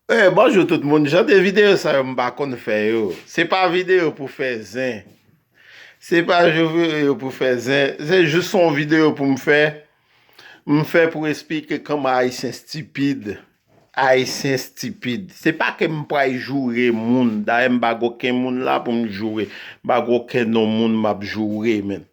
Eh bonjou tout moun, jan de videyo sa yo m pa konn fè yo, se pa videyo pou fè zen, se pa videyo pou fè zen, se jous son videyo pou m fè, m fè pou esplike kòman ayisyen stipid, ayisyen stipid, se pa ke m pray joure moun, dayè m pa gen oken moun la pou m joure, m pa gen oken non moun m ap joure menm.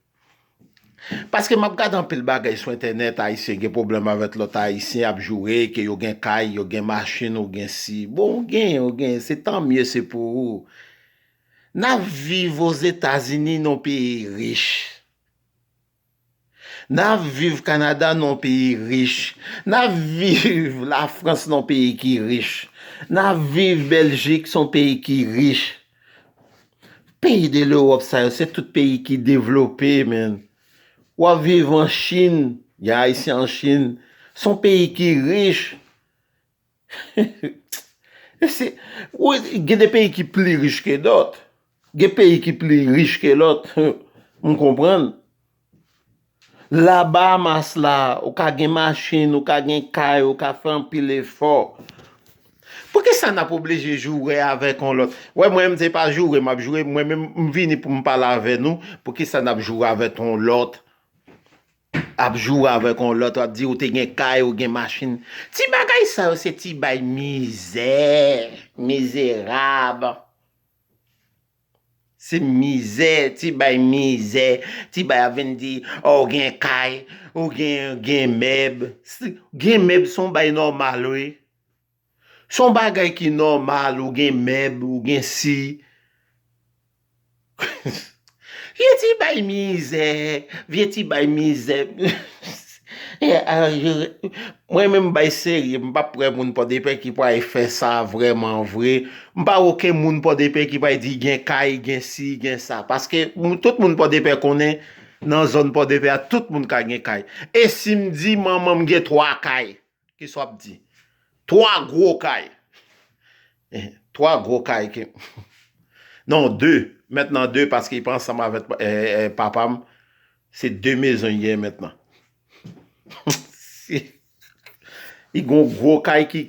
Paske map gad anpil bagay sou entènèt ayisyen gen pwoblèm avèk lòt ayisyen ap joure ke yo gen kay yo gen machin ou gen si bon ou genyen ou genyen se tan mye se pou ou nap viv ozetazini non peyi rich nap viv kanada non peyi rich nap viv la frans non peyi ki rich nap viv bèljik son peyi ki rich. Peyi de lewòp sa yo se tout peyi ki devlope menn wap viv an chin gen ayisyen an chin son peyi ki rich gen de peyi ki pli rich ke dòt gen peyi ki pli rich ke lòt m konprann La Bahamas la, ou ka gen machin, ou ka gen kay, ou ka fè anpil efò. Poukisa n ap oblije joure avèk yon lòt? Wè mwen menm se pa joure m ap joure, mwen menm m vini pou m pale avè nou, poukisa n ap joure avèk yon lòt? Ap joure avèk yon lòt, w ap di ou te gen kay, ou gen machin. Ti bagay sa yo se ti bay mizè, mizerab. Se mizè, ti bay mizè, ti bay ap vin di oh ou gen kay, ou gen mèb. Gen mèb son bay nòmal wi. Son bagay ki nòmal ou gen mèb, ou gen si. Vye ti bay mizè, vye ti bay mizè. Mwen menm bay serye m pap kwè moun pòdepè ki pway fè sa vrèman vre m pa wè oken moun pòdepè ki pway di gen kay gen si gen sa paske tout moun pòdepè konnen nan zòn pòdepè a tout moun ka gen kay e si m di manman m gen 3 kay Kisa w ap di? Twa gwo kay. Twa gwo kay ke. Non, de. Mentnan de paske li pa ansanm avè papa m. Se de mezon li genyen mentnan. Li gen yon gwo kay ki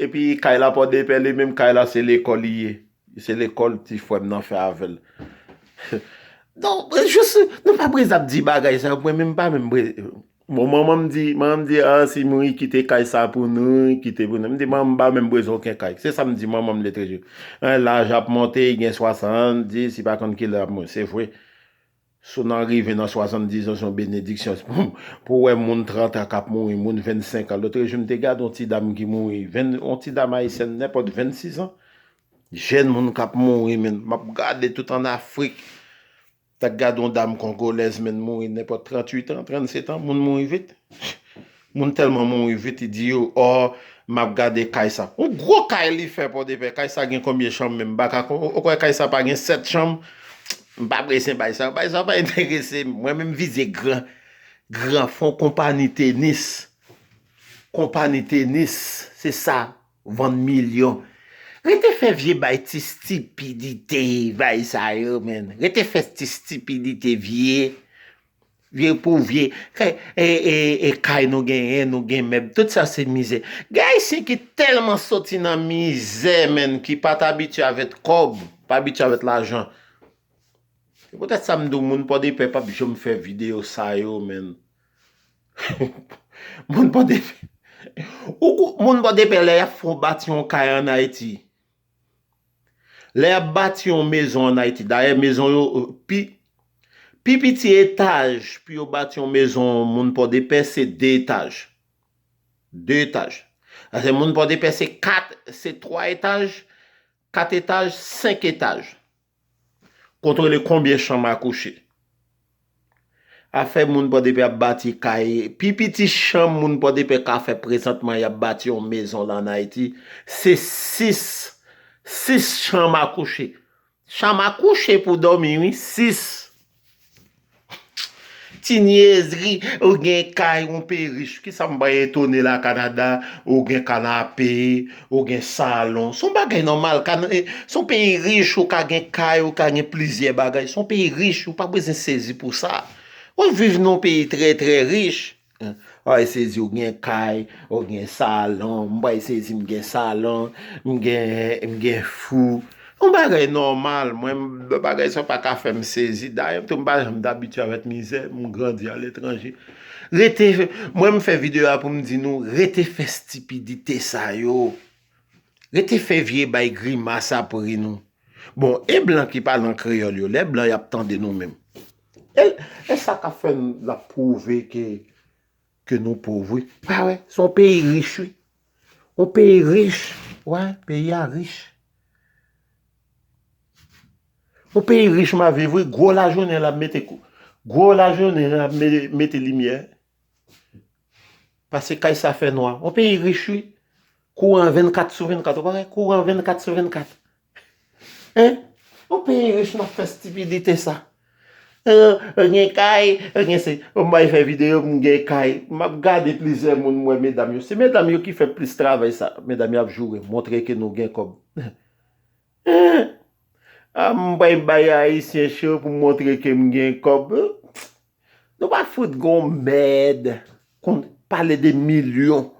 epi kay la Pòdepè li menm kay la se lekòl li ye. Se lekòl ti frè m nan fè avè l. Non, jis nou pa prese ap di bagay sa yo mwen menm m pa menm prese. Bon manman m di, manman m di a si mouri kite kay sa pou nou, kite pou nou, m di manman m pa menm bezwen oken kay, se sa m di manman m de toujou, an laj ap monte li gen 70, li pa konn ki lè lap mouri, se vre, sou nan rive nan 70 an se yon benediksyon pou wè moun 30 an kap mouri, moun 25 an, lotrejou m te gade yon ti dam ki mouri, yon ti dam ayisyèn nenpòt 26 an, jèn moun kap mouri men, map gade tout an Afrik. Dak gad yon dam kongolèz menn mouri nenpòt 38 an, 37 an, moun mouri vit. Moun tèlman mouri vit li di yo oh map gade kay sa. Yon gwo kay li fè pòdepè, kay sa gen konbyen chanm menm baka konn, ou kwè kay sa pa gen 7 chanm? M pa prese bay sa, bay sa pa enterese m, mwen menm vize gran, gran fon konpani tenis, konpani tenis se sa. Vann milyon. Rete fè vye bay ti stipidite bay sa yo menn. Rete fè ti stipidite vye. Vye pou vye. Fè e kay nou genyen, nou gen mèb. Tout sa se mizè. Gen ayisyen ki tèlman soti nan mizè menn ki pa t abitye avèt kòb, pa abitye avèt lajan. Se poutèt sa m di w moun Pòdepè p ap janm fè videyo sa yo menn. Moun pòdepè Ou kwè moun pòdepè lè yap fè yon bati yon kay an ayiti lè yap bati yon mezon an ayiti dayè mezon yo pi pi piti etaj pou yo bati yon mezon moun pòdepè se 2 etaj 2 etaj pase moun pòdepè se 4 se 3 etaj 4 etaj 5 etaj Kontwole konbyen chanm a kouche. Afè moun Pòdepè ap bati kay, pi piti chanm moun Pòdepè ka fè prezantman y ap bati yon mezon la ann Ayiti, se 6, 6 chanm a kouche. Chanm a kouche pou dòmi wi, 6. Ti nièzri, ou gen kay, ou pe rich, ki sa m bay etone la Canada, ou gen kanape, ou gen salon, son bagay nòmal, son peyi rich ou ka gen kay, ou ka gen plizyè bagay, son peyi rich ou pa bezwen sezi pou sa. Wap viv nan yon peyi trè trè rich. Ou pral sezi ou gen kay, ou gen salon, m pral sezi m gen salon, m gen fou. Yon bagay nòmal, mwen bagay sa pa ka fè m sezi. Dayè tou m pa janm t abitye avèk mizè, m grandi aletranje. Rete, mwen m fè videyo a pou m di nou, rete fè stipidite sa yo. Rete fè vye bay grimas ap ri nou. Bon, e blan ki pale an kreyòl yo, lè blan y ap tande nou menm? E sa kap fè nap prouve ke nou pov wi. Pa wè, se yon peyi rich wi. Yon peyi rich, wè, peyi a rich. Yon peyi rich map viv wi, gwo lajounen lap mete kou, gwo lajounen lap mete limyè. Pase kay sa fè nwa. Yon peyi rich wi. Kouran 24 sou 24, ou pa wè, kouran 24 sou 24. Hein Yon peyi rich nap fè stipidite sa Ou gen kay ou gen se Ou bay fè video m gen kay Map gade plizyè moun m wè medam yo se medam yo ki fè plis travay sa Medam yo ap joure montre ke nou gen kòb Hein Ah m pral bay ayisyen cho pou m montre ke m gen kòb Nou pa fout gon mèd Konn pale de milyon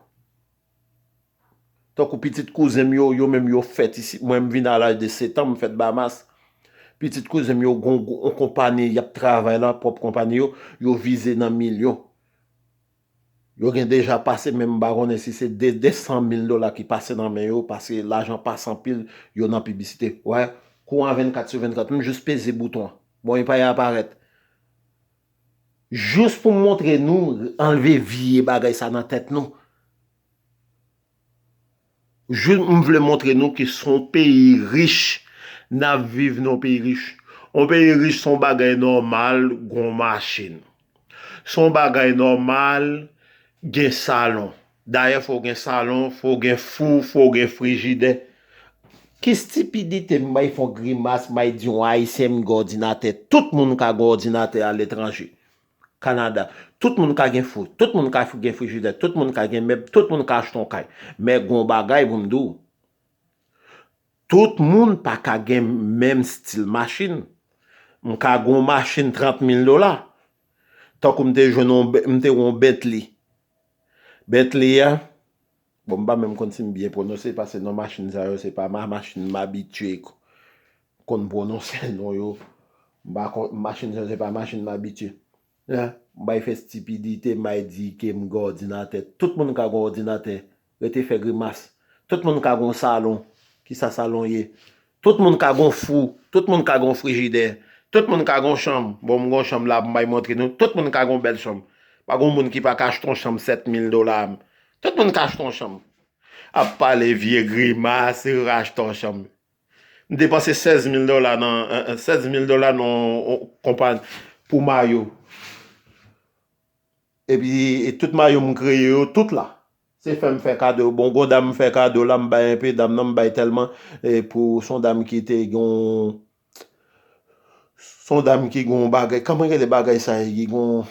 Tankou pitit kouzen m yo, yo menm yo fèt isit. Mwen m vin a laj de setan, m fèt Bahamas. Pitit kouzen m yo gon yon konpani y ap travay la, pwòp konpani yo, yo vize nan milyon. Yo gen deja pase men m pa konnen si se 2, 200 mil dola ki pase nan men yo paske lajan pase anpil, yo nan piblisite. Wè, kouran 24 sou 24, m jis peze bouton an. Bon, e pa y aparèt. Jous pou m montre nou anlve vye bagay sa nan tèt nou. Jous m vle montre nou ke se yon peyi rich n ap viv nan yon peyi rich. Yon peyi rich se yon bagay nòmal gen yon machin. Se yon bagay nòmal gen salon. Dayè fòw gen salon, fòw gen fou, fòw gen frijidè. Ki stipidite m may fon grimas may di yon ayisyen m gen òdinatè tout moun ka gen òdinatè aletranje Canada tout moun ka gen fou tout moun ka gen frijidè tout moun ka gen mèb tout moun ka achte yon kay men gen yon bagay pou m di w tout moun pa ka gen menm stil machin m ka gen yon machin 30 mil dola tankou m te jwenn yon m te gen yon Bentley Bentley a, bon m pa menm konn si m byen pwononse pase non machin sa yo se pa ma machin m abitye konn pwononse non yo. M pa konn, machin sa yo se pa machin m abitye. Hein? M bay fè stipidite, m bay di ke m gen òdinatè. Tout moun ka gen òdinatè. Rete fè grimas. Tout moun ka gen yon salon. Kisa salon ye? Tout moun ka gon fou, tout moun ka gon frijidè, tout moun ka gon chanm, bon m gon chanm la m bay montre nou, tout moun ka gon bèl chanm, pa gon moun ki pa ka achte yon chanm 7000 dola, tout moun ka achte yon chanm. Ap pale vye grimas, yo ka achte yon chanm. M depanse 16000 dola nan 16000 dola nan yon konpa pou mayo. Epi tout mayo m kreye yo tout la. Se fè m fè kado. Bon gon dam m fè kado la m bay enpe dam nan m bay tèlman pou son dam ki te gon son dam ki gon bagay kòman rele bagay sa ye ki gon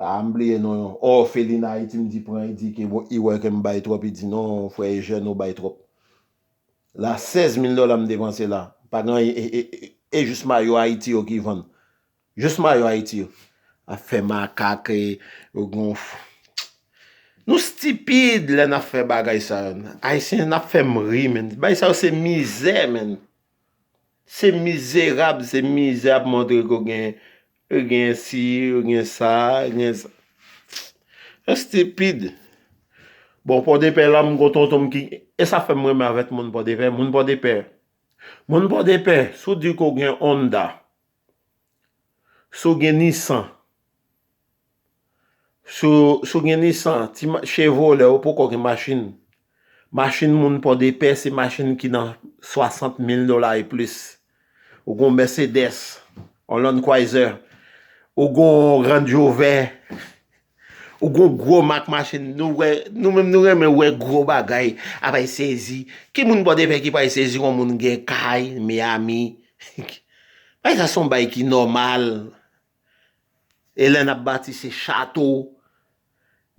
a m bliye non yon òfelina ayiti m di pran li di ke bon li wè ke m bay twòp li di non frè Ejèn ou bay twòp la 16 mil dòla m depanse la pa gen anyen e jis mayo ayiti yo ki vann Jus mayo ayiti yo ap fè makak e yo gen yon Nou stipid lè nap fè bagay sa yo Ayisyen nap fèm ri menn Bagay sa yo se mizè menn Se mizerab se mizè ap montre ke w gen Ou gen si ou gen sa Nou stipid Bon pòdepè la m gen yon tonton m ki E sa fèm renmen avèk moun pòdepè Moun pòdepè Moun pòdepè si w di ke w gen Honda Si w gen Nissan, si w gen Nissan, Chevrolet ou poko gen machin, machin moun Pòdepè se machin ki nan 60 mil dola e plis. Ou gen yon Mercedes, yon Land Cruiser, ou gen yon Range Rover, Ou gon gro mak machin nou wè nou menm nou renmen wè gro bagay ap ay sezi ki moun pòdepè ki pa ay sezi wè moun gen kay miami bay sa son bay ki nòmal e lè nap bati se chato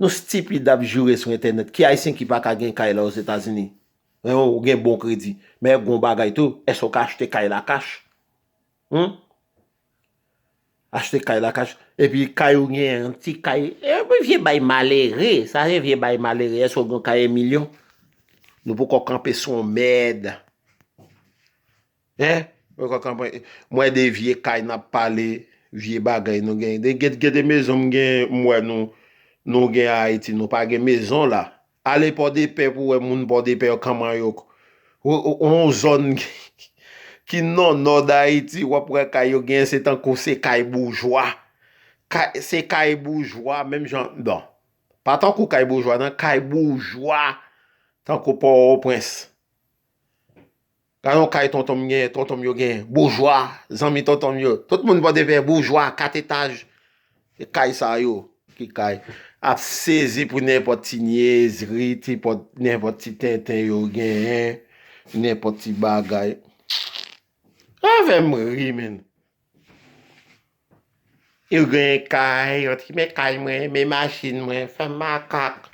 nou stipid ap joure sou entènèt ki ayisyen ki pa ka gen kay la ozetazini men ou gen bon kredi men gon bagay tou eske ou ka achte kay la kach hum. Achte kay la kach epi kay ou gen yon ti kay epi vye bay malere sa se vye bay malere eske ou gen yon kay 1 milyon nou poko kanpe sou yon mèd hein nou poko kanpe m wè de vye kay n ap pale vye bagay nou gen gen de mezon m gen m wè nou nou gen Ayiti nou pa gen mezon la. Ale pòdepè pou wè moun pòdepè yo kman yo yon zòn ki nan nò dayiti wap wè kay yo gen se tankou se kay boujwa se kay boujwa menm jan nan pa tankou kay boujwa nan kay boujwa tankou pòwòprens. Nan yon kay tonton m gen, tonton m yo gen boujwa, zanmi tonton m yo, tout moun Pòdepè, boujwa, kat etaj, se kay sa yo ki kay, ap sezi pou nenpòt ti nyezri, ti pòt, nenpòt ti tenten yo genyen, nenpòt ti bagay. Sa fè m ri menn. Yo gen kay, yo ti men kay mwen, men machin mwen, fè makak.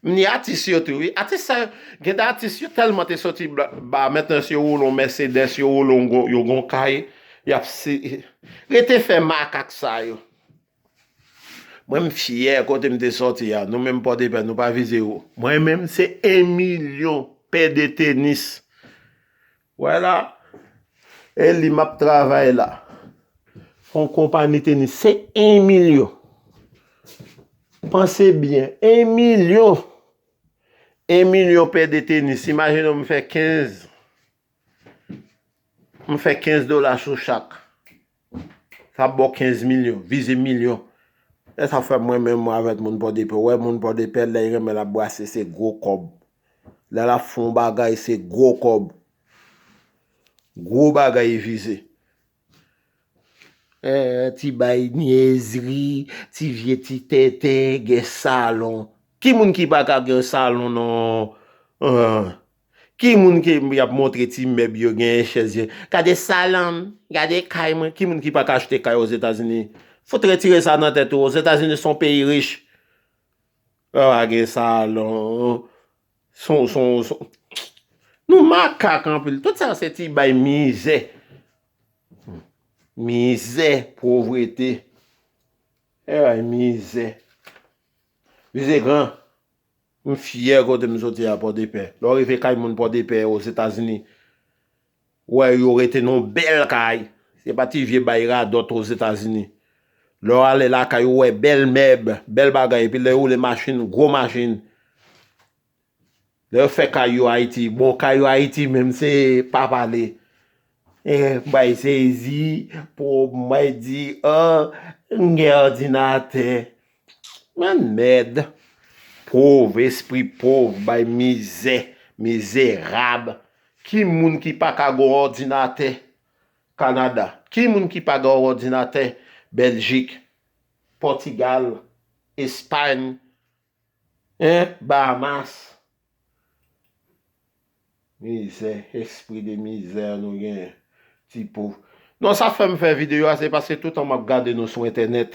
M ni atis yo tou wi. Atis sa yo, gen de atis yo tèlman te soti ba, mentnan si yo woule yon Mercedes, yo woule yon gwo, yo gen yon kay, y ap si. Rete fè makak sa yo. Mwen m fyè kote m te soti a. Nou menm Pòdepè, nou pa vize wo. Mwen menm se 1 milyon pè de tenis. Wè la, e li m ap travay la. Yon konpani tenis se 1 milyon. Panse byen, 1 milyon! 1 milyon pè de tenis. Imajine w m fè 15 dola sou chak. Sa ap baw 15 milyon, vize milyon. Esa fè mwen menm mwen avèk moun pòdepè, wè moun pòdepè lèy renmen lap brase se gwo kòb. Lè lap fon bagay se gwo kòb. Gwo bagay yi vize. Eeh ti bay nyezri, ti vye ti tenten gen salon. Ki moun ki paka gen salon nan. Ki moun ke yap montre ti mèb yo genyen chèz yo gade salonm gade kay mwen ki moun ki paka achte kay ozetazini fout retire sa nan tèt ou ozetazini son peyi rich yo pa gen salon son son son nou makak anpil tout sa se ti bay mizè mizè povrete e bay mizè vize gran M fyè kote m soti a Pòdepè. Lè w rive kay moun Pòdepè, Ozetazini, ou wè yo rete nan yon bèl kay. Se pa ti vye bay radòt Ozetazini. Lè w ale lakay ou wè bèl mèb, bèl bagay. Epi lè yo woule machin, gwo machin. Lè yo fè kay yo Ayiti, bon kay yo Ayiti menm se pa pale. Mwen sezi pou mwen di oh m gen òdinatè. Bann mèd. Pov, espri pov bay mizè, mizerab. Ki moun ki pa ka gon òdinatè Kanada? Ki moun ki pa gen òdinatè Bèljik, Pòtigal, Espayn? Hein Bahamas Mizè espri de mizè nou genyen ti pov Non sa fèm fè video a se paske toutan map gade nou sou entènèt.